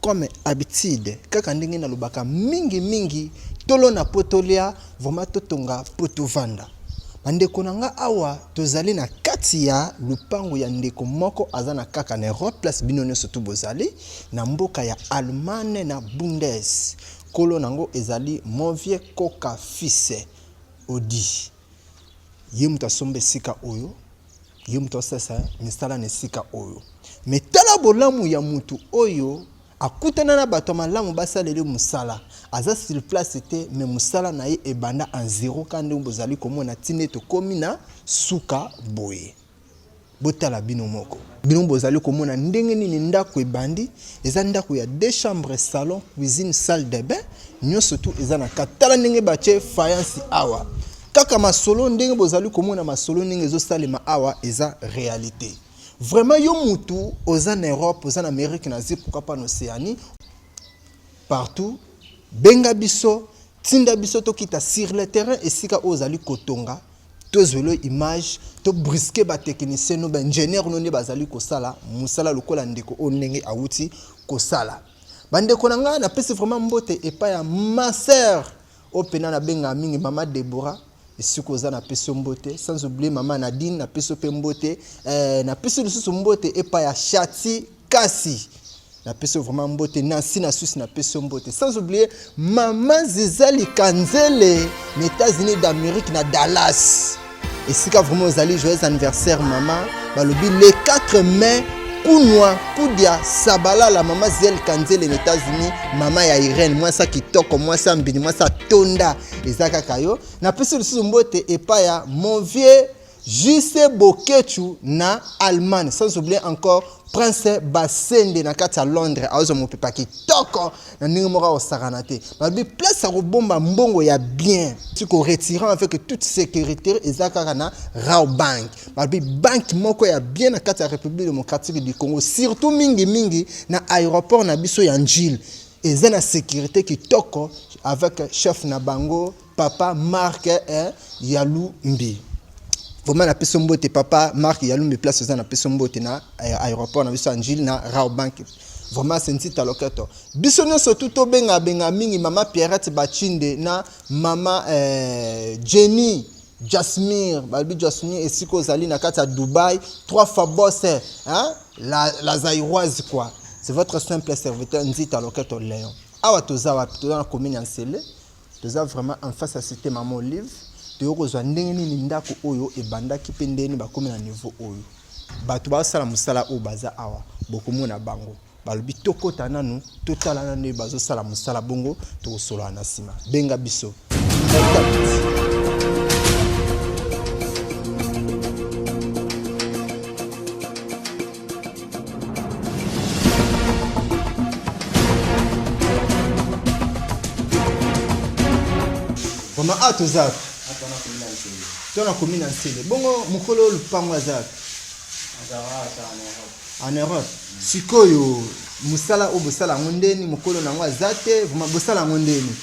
Comme habitude kaka ndenge na lobaka mingi mingi tolona po tolia vraiment totonga po tovanda bandeko na nga awa tozali na kati ya lupango ya ndeko moko aza na kaka na europe place bino nyonso tu bozali na mboka ya allemagne na bundes kolo na yango ezali movie koka fise odi ye moto asomba esika oyo ye moto asalisa misala na esika oyo me tala bolamu ya moto oyo akutana na bato ya malamu basaleli mosala aza sur place te me mosala na ye ebanda en zero ka ndenge bozali komona ntina tokomi na suka boye Botala bino moko. Bino bozali komona ndenge nini ndaku ebandi, eza ndaku ya deux chambres, salon, cuisine, salle de bain, nionso tout eza na kati. Tala ndenge batie faïence awa. Kaka masolo ndenge bozali komona masolo ndenge ezo salema awa eza realite. Vraiment yo mutu oza na Europe, oza na Amerique, na Asie, pourquoi pas na Oceanie, partout benga biso tinda biso tokita sur le terrain esika oyo ozali kotonga tozwelo image to briske batechnicien no baingenieur no nde bazali kosala mosala lokola ndeko oyo ndenge awuti kosala bandeko na ngai napesi vraiment mbote epai ya ma sœur Oyo pena na bengaka mingi mama Deborah esika oza na pesi yo mbote sans oublier mama Nadine na pesi yo pe mbote eh, na pesi lisusu mbote epa ya Shati kasi na pesi yo vraiment mbote Nancy na susi na pesi yo mbote sans oublier mama Zizali Kanzele na États-Unis d'Amérique na Dallas esika vraiment ozali joyeux anniversaire mama balobi le 4 mai kunwa kudia sabalala mama ziel kanzele na états-unis mama ya irene mwasi ya kitoko mwasi ya mbini mwasi ya tonda eza kaka yo napesi lisusu mbote epai ya mon vieux juste bokechu na allemagne sans oublier encore prince basende na kati ya londres aozwa mopepa kitoko na ndenge moko akosakana te balobi place ya kobomba mbongo ya bien ti koretire avec toute sécurité eza kaka na raw bank balobi banke moko ya bien na kati ya république démocratique du congo surtout mingimingi na aéroport na biso ya njile eza na sécurité kitoko avec chef na bango papa mark eh, yalumbi vraiment napesi mbote papa mark yalumbi place oza napesi mbote na eh, aéroport na biso angile na raobank vraiment sensita loketo biso nyonso tu tobengabenga mingi mama pierrette bachinde na mama eh, jenny jasmir balobi jasmir esika ozali na kati ya dubai trois fois bose eh, hein? la, la zairoise quoi c'est votre simple serviteur nzita loketo léon awa toza wapi toza na commune ya nsele Toza vraiment en face ya cite maman Olive. Toyo kozwa ndenge nini ndako oyo ebandaki mpe ndenge nini bakomi na niveau oyo. Bato basala mosala oyo baza awa bokomona bango balobi tokota nanu totala nanu ye bazosala mosala bongo tokosolola na nsima benga biso Mama A toza wapi? To na komi na Nsele. Bongo mokolo oyo lupango aza wapi? En Europe. Sikoyo mosala oyo bosala yango ndeni mokolo na yango aza te, vraiment bosala yango ndeni?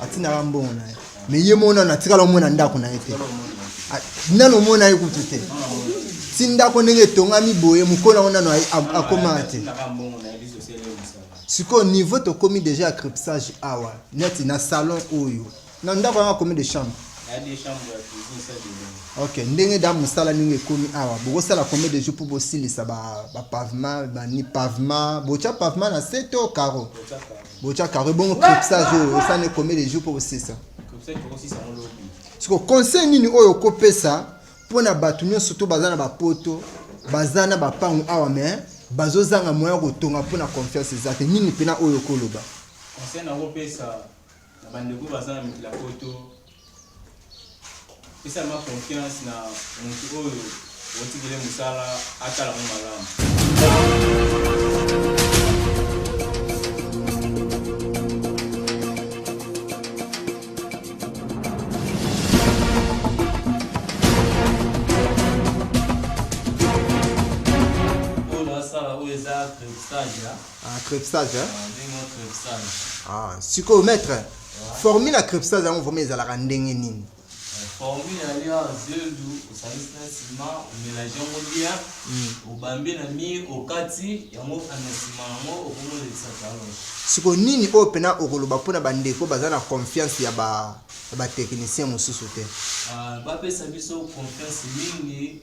Atindaka mbongo na ye. Mais ye mona na tikala omona ndako na ye te. Ah, nano omona ye kutu te. Ti ndako ndenge etongami boye mokolo yango nano akomaka te. Sikoyo niveau tokomi déjà ya crepsage awa neti na salon oyo na ndako yango akomi de chambre ok ndenge da mosala ndenge ekomi awa bokosala combien de jour mpo bosilisa bapavement bani pavement botya pavement na se to caro ba botia karo ebongo cripsage oyo osani combien de jours mpo bosisa siko conseil nini oyo okopesa mpo na bato nyonso to baza na bapoto baza na bapango awa me bazozanga moya kotonga mpo na confiance eza te nini mpena oyo okoloba conseil nakopesa na bandeko baza na mikila poto Pesa ma confiance na mutu oyo otikele mosala atala mo malamu. Ah, crepsage, hein? Ah, sikoyo maître Formule ya crepsage yango vraiment ezalaka ndenge nini? Formule ya lia zeldu osangisi na sima omelange yango bien obambi na mire okati yango na sima yango okomolekisa talon. Siko nini oyo pena okoloba mpo na bandeko baza na confiance ya ba ba technicien mosusu te? Bapesa biso confiance mingi.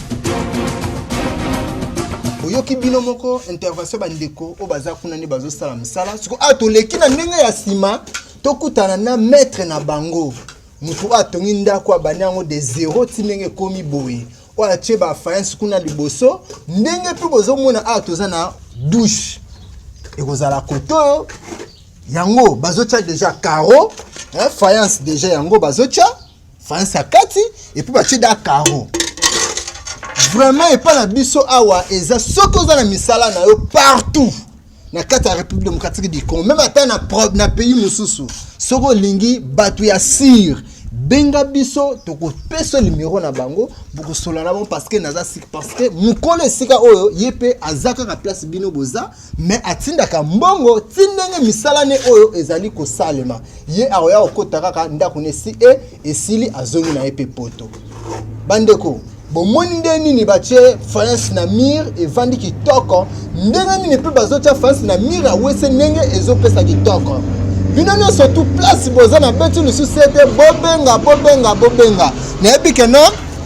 oyoki bino moko intervention bandeko oyo baza kuna nde bazosala mosala siko awa ah, toleki na ndenge ya nsima tokutana na maître na bango motu oyo atongi ndako abandi yango de zero ti ndenge ekomi boye oyo atie bafayansi kuna liboso ndenge mpe bozomona awa ah, toza na douche ekozala kote oyo yango bazotya deja caro fayansi deja yango bazotya France à Kati et puis batie da carreau vraiment epai na biso awa eza soki oza na misala na yo partout na kati ya république démocratique du congo meme ata na, na pays mosusu soki olingi bato ya sire benga biso tokopesa limero na bango bokosola na bango parceke naza sik parceke mokolo esika oyo ye mpe aza kaka place bino boza me atindaka mbongo ti ndenge misala ne oyo ezali kosalema ye akoya kokota kaka ndako ne si e esili azongi na ye mpe poto bandeko bomoni nde nini batye france na mire evandi kitoko ndenge nini mpe bazotya france na mire awese ndenge ezopesa kitoko bino nyonso tu place boza na beti lisusu ete bobenga bobenga bobenga nayebi keno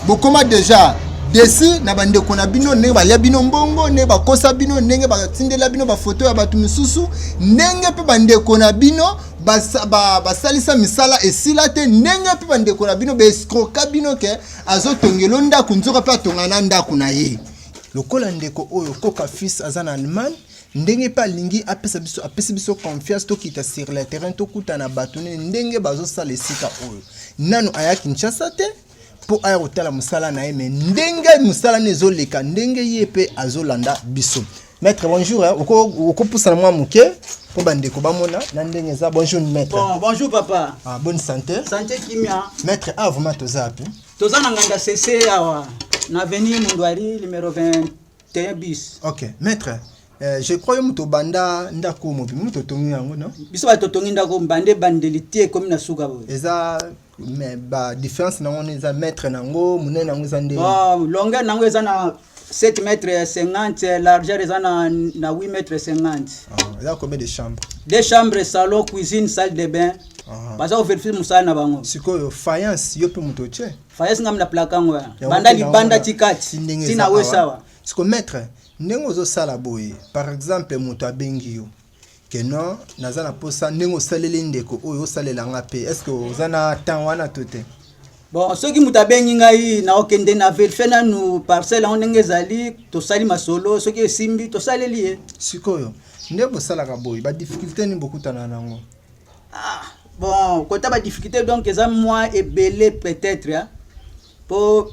bokoma deja desi na bandeko na bino ndenge balya bino mbongo ndenge bakosa bino ndenge batindela bino bafoto ya bato mosusu ndenge mpe bandeko na bino basalisa ba, ba misala esila te ndenge mpe bandeko na bino baescroka bino ke azotongelo ndako nzoka mpe atonga na ndako na ye lokola ndeko oyo koka fils aza na allemagne ndenge mpe alingi apesa biso apesi biso confiance tokita sur le terrain tokutana bato nini ndenge bazosala esika oyo nanu aya kinshasa te mpo aya kotala mosala na ye me ndenge mosala na ezoleka ndenge ye mpe azolanda biso maître bonjour hein. okopusana mwa moke mpo bandeko bamona na ndenge eza bonjour maître bon, bonjour papa ah, bonne santé santé kimia maître a ah, vraiment toza api toza na nganda sese awa na avenue munduari numero 21 bis ok maître Eh, je crois yo moto obanda ndako mobimi moto otongi yango no biso bato totongi ndako mbande ebandeli te ekomi na suka boye eza mais ba différence nango nde eza mètre nango monene nango eza nde bon longueur nango eza na 7 mètre 50 largeur eza na, na 8 mètre 50 Ah, eza combien de chambre deux chambres salon cuisine salle de bain Ah. baza koverifie mosala na bango sikoyo faïence yo mpe moto otye fayesi ngambi na plaka yango ya Yango banda mpe na libanda wana, ti kati ti ndenge ti eza na awa. wesawa siko maître ndenge ozosala boye par exemple moto abengi yo que non naza na posa ndenge osaleli ndeko oyo osalela nga mpe est ce que oza na temps wana to te bon soki moto abengi ngai naokende na verifie nanu parcelle yango ndenge ezali tosali masolo soki esimbi tosaleli ye sikoyo nde bosalaka boye badifficulté nini bokutana nango ah, bon kota badifficulté donc eza mwa ebele peut-être po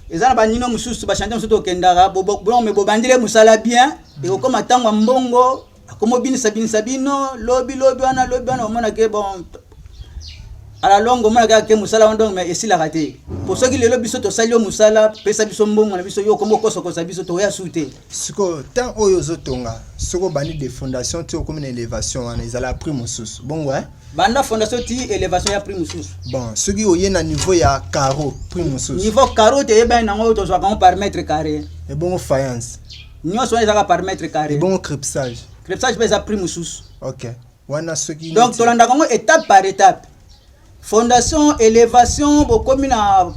eza na banino mosusu bashante mosusu tokendaka bolome bobandile mosala bien mm. ekokoma ntango ya mbongo akomobinisa binisa bino lobi lobi wana lobi wana omonake bon ala longo omonake ake mosala wana donc esilaka te po soki lelo biso tosali yo mosala pesa biso mbongo na biso yo okomi okosokosa biso toya su te sikoyo temps oyo ozotonga soki obandi de fondation ti okomi na elevation wana ezala prix mosusu bongo eh? banda fondation ti elevation ya prix mosusu bon soki oye na niveau ya caro prix mosusu niveau caro te eyebani nango tozwaka yango par mètre carré ebongo faïence nyonso wana ezaka par mètre carré ebongo crepsage crepsage mpe eza prix mosusu ok wana soki donc tolandaka yango étape par étape fondation élévation bokomi na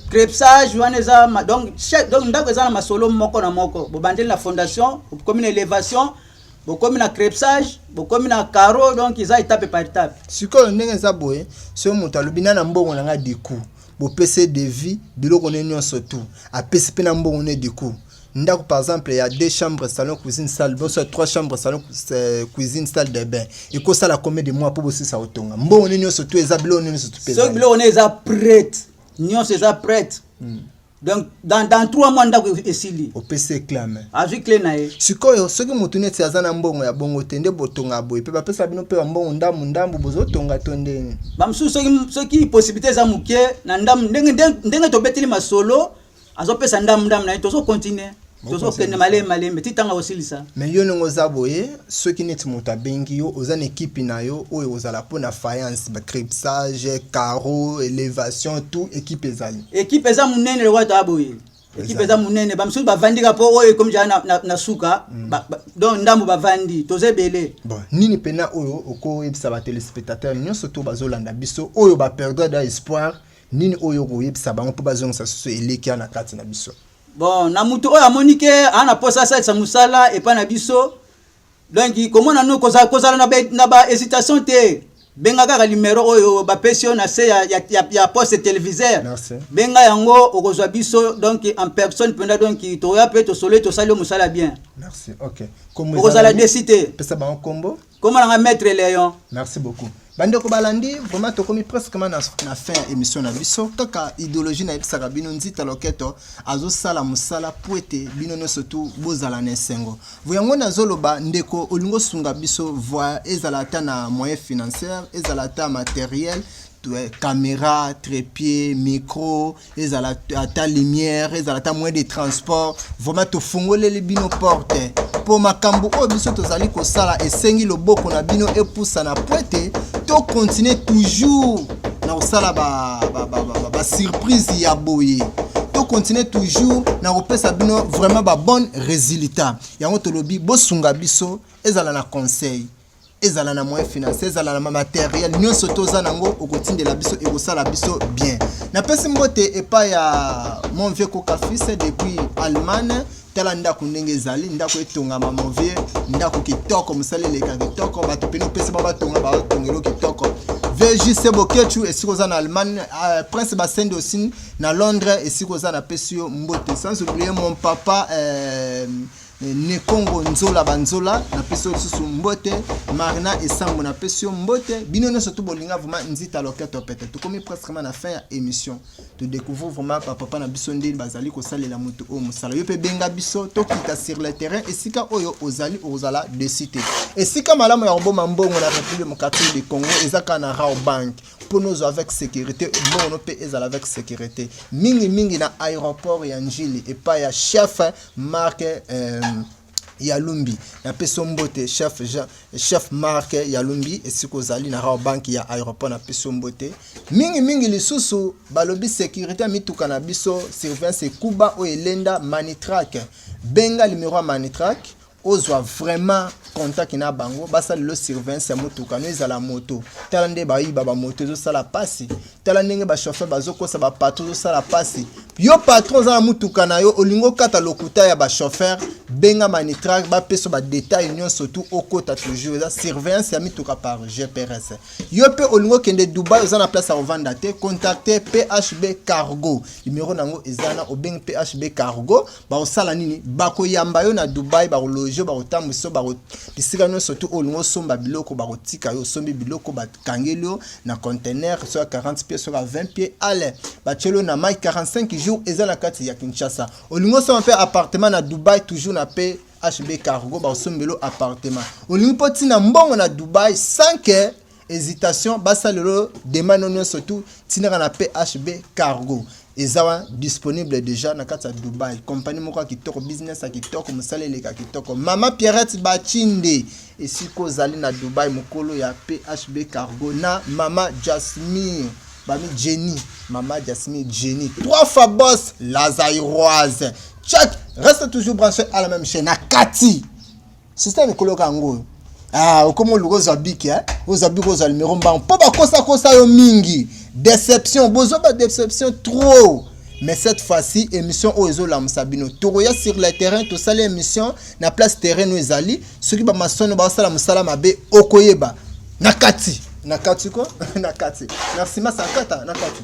crepsage wana eza donc donc ndako eza na masolo moko na moko bobandeli na fondation bokomi na élévation bokomi na crepsage bokomi na caro donc eza étape par étape sikoyo ndenge eza boye soki moto alobi na na mbongo na ngai du coup bopesi devis biloko ne nyonso tout apesi mpe na mbongo ne du coup ndako par exemple ya deux chambres salon cuisine salle boso ya trois chambres salon euh, cuisine salle de bain ekosala combien de mois mpo bosisa kotonga mbongo nini nyonso to eza biloko nini nyonso soki biloko nini eza prête nyonso eza prête hmm. donc dans, dans trois mois ndako e-, esili opesi eklame azwi cle na ye sikoyo soki motu neti aza na mbongo ya bongo te nde botonga boye mpe bapesa bino mpe bambongo ndambu ndambu bozotonga to ndenge bamosusu soki, soki possibilité eza moke na ndambu ndenge, ndenge, ndenge tobeteli masolo azopesa ndambu ndambu na ye tozo continue tozokende malembe malembe ti ntango akosilisa me yo ndenge oza boye soki neti moto abengi yo oza na ekipe na yo oyo ekozala mpo na faïence bacripsage caro élévation tout ekipe ezali ekipe eza monene lokola toa boye ekipe eza monene bamisusu bavandi ka mpo oyo ekomi jala na, na, na suka mm. ba, ba, donc ndambo bavandi toza ebele bon, nini mpena oyo okoyebisa batelespectateur nyonso to bazolanda biso oyo baperdre da espoir nini oyo okoyebisa bango mpo bazongisa susu elikia na kati na biso bon na moto oyo amoni ke aa na mposa asalisa mosala epai na biso donc komona no kozala, kozala na, be, na ba hésitation te benga kaka limero oyo bapesi yo na se ya, ya, ya, ya poste televisaire benga yango okozwa biso donc en personne mpenza donc toya mpe tosololi tosali yo mosala bien okozala desi te pesa bango nkombo Comment nanga maître Léon. Merci beaucoup. bandeko balandi vraiment tokomi presquement na, na fin ya émission na biso kaka idéologie nayebisaka bino nzita loketo azosala mosala mpo ete bino nyonso tu bozala na esengo vo yango nazoloba ndeko olingi osunga biso voi ezala ata na moyen financière ezala ata materiel camera trépied micro ezala ata lumière ezala ata moyen de transport vraiment tofungoleli bino porte mpo makambo oyo biso tozali kosala esengi loboko na bino epusana mpo ete tokontinue toujours na kosala basurprise ba, ba, ba, ba ya boye tokontinue toujours na kopesa bino vraiment babonne résultat yango tolobi bosunga biso ezala na conseil ezala na moyen financier ezala na materiel nyonso toza nango okotindela biso ekosala biso bien napesi mbote epai ya mon vieux kokafise depuis allemagne tala ndako ndenge ezali ndako etongama mon vieux ndako kitoko mosala eleka kitoko bato pene opesi ba batonga batongelo kitoko vjc bokechu esika oza na allemagne uh, prince basende osi na londres esika oza napesi yo mbote sans oublier mon papa euh, Nekongo Nzola Banzola na pesi yo lisusu mbote, Marina Esambo na pesi yo mbote, bino nyonso tu bolinga vraiment Nzita Loketo Pete. Tokomi pratiquement na fin ya emission. To découvrir vraiment ba papa na biso ndenge bazali kosalela moto oyo mosala. Yo pe benga biso tokita sur le terrain esika oyo ozali ozala de cité. Esika malamu ya koboma mbongo na République démocratique du Congo eza kaka na Rao Bank mpo nozwa avec sécurité mbongo no mpe ezala avec sécurité mingi mingi na aéroport ya Njili epai ya chef Marc euh, Yalumbi napesi mbote chef Jean, chef Marc Yalumbi esika ozali na Raw Bank ya aéroport napesi mbote mingi mingi lisusu balobi sécurité ya mituka na biso surveillance ekuba oyo elenda Manitrack benga numero ya Manitrack ozwa vraiment contact na bango basala lelo surveillance ya motuka no ezala moto tala nde bayiba bamoto ezosala mpasi tala ndenge ba chauffeur bazokosa ba patron ozosala mpasi yo patron oza na motuka na yo olingi okata lokuta ya ba chauffeur benga manitrag bapesa badetail nyonso tu okota toujours eza surveillance ya mituka par gprs yo mpe olingi okende dubai oza na place ya kovanda te contacte phb cargo numero na yango eza na obengi phb cargo bakosala nini bakoyamba yo na dubai bakologe bakotambwisa yo bisika nyonso tu olingi osomba biloko bakotika yo osombi biloko bat kangeli yo na contener so ya 40 pied so ya 20 pied ale batyeli yo na mai 45 jours eza na kati ya kinshasa olingi osoma mpe appartement na dubai toujours na mpe hb cargo baosombelo appartement olingi mpo ntina mbongo na dubai sans que hésitation basalelo demande nyonso tu tinaka na phb cargo eza wa disponible deja na kati ya dubai kompani moko ya kitoko business ya kitoko mosala eleka kitoko mama pierrette bachinde esika ozali na dubai mokolo ya phb cargo na mama jasmir bami jenny mama jasmir jenny trois fois bos lazairoise chak reste toujours branché à la même chaîne na kati Sista mikolo yoka yango oyo. Ah, okomi oluka ozwa biki eh? ozwa biki ozwa numero mbango mpo bakosakosa yo mingi deception bozwa badeception trop mais cette fois-ci émission oyo ezolamusa bino tokoya sur le terrain tosali émission na place terrain oyo ezali soki bamasono basala mosala mabe okoyeba na kati na kati ko na kati merci masankata na kati